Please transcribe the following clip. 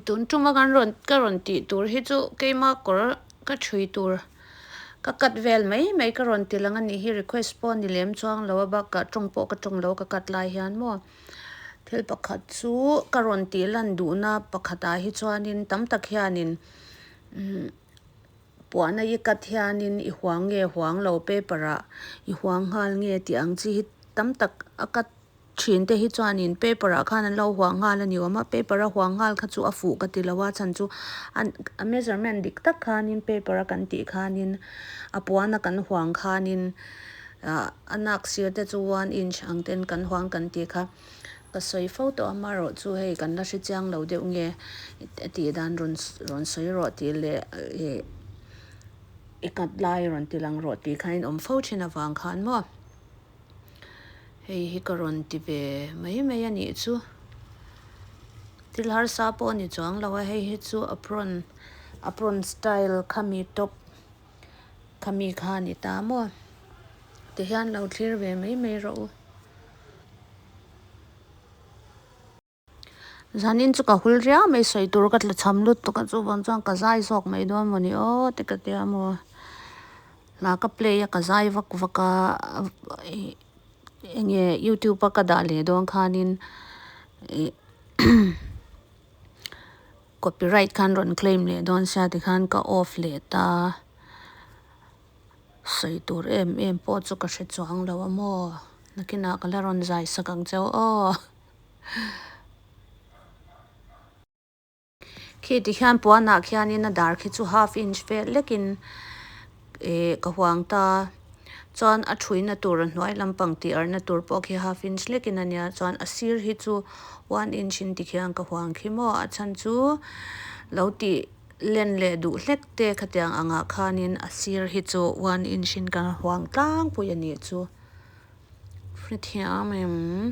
tun tuma kan rawn ka rawn tih tur hi chu keima kawr ka ṭhui tur ka cut vel mai mai ka rawn ti lang a nih hi request pawh a ni lem chuang lo a bakah ṭawng pawh ka ṭawng lo ka cut lai hian maw thil pakhat chu ka rawn tih lan duhna pakhatah hi chuanin tam tak hianin imm-- Puahna i cut hianin i huang nge huang lo paper-a i huang nghal nge tih ang chi hi tam tak a cut thin te hi chuanin paper-ah khan an lo huang nghal a ni awm a. Paper-a huang nghal kha chu a fuh ka ti lo a, chhan chu a measurement dik tak khanin paper-a kan tih khanin a puana kan huang khanin a nak sir te chu one inch ang ten kan huang kan tih kha. Ka sawi fo tawh a, marawh chu hei kan la hre chiang lo deuh nge a tih dan rawn sawi rawh tih leh i kat lai rawn ti lang rawh tih khan in awm fo thin avang kha an maw. Hei hi ka rawn ti ve mai mai a nih chu. Thil harsa pawh a ni chuang lo a, hei hi chu apron style khami top. Khami khan i ta maw? Ti hian lo thlir ve mai mai rawh u. Zanin chu ka hul riau mai sawi tur ka tla chham lut tuk a chuvang chuan ka zai zawk mai dawn maw ni aw te ka tia maw. Hna ka play a ka zai vak vak a enge youtube a ka dah leh dawn khanin Copyright khan rawn claim leh dawn sia ti khan ka off leh ta. Sawi tur em em pawh chu ka hre chuang lo a maw. Nakinah ka la rawn zai sak ang che aw. Khi ti hian puanah khian in a dar khi chu half inch fel lek in. Eh, ka huang ta. Chuan a ṭhuina tur a hnuai lampang tih arhna tur pawh khi half inch lekin a nia. Chuan a sir hi chu one inch in ti khian ka huang khi maw? A chhan chu lo ti len leh duh hlek te khatiang angah khanin a sir hi chu one inch in kan huang tlangpui a nih chu. Hrethiam em.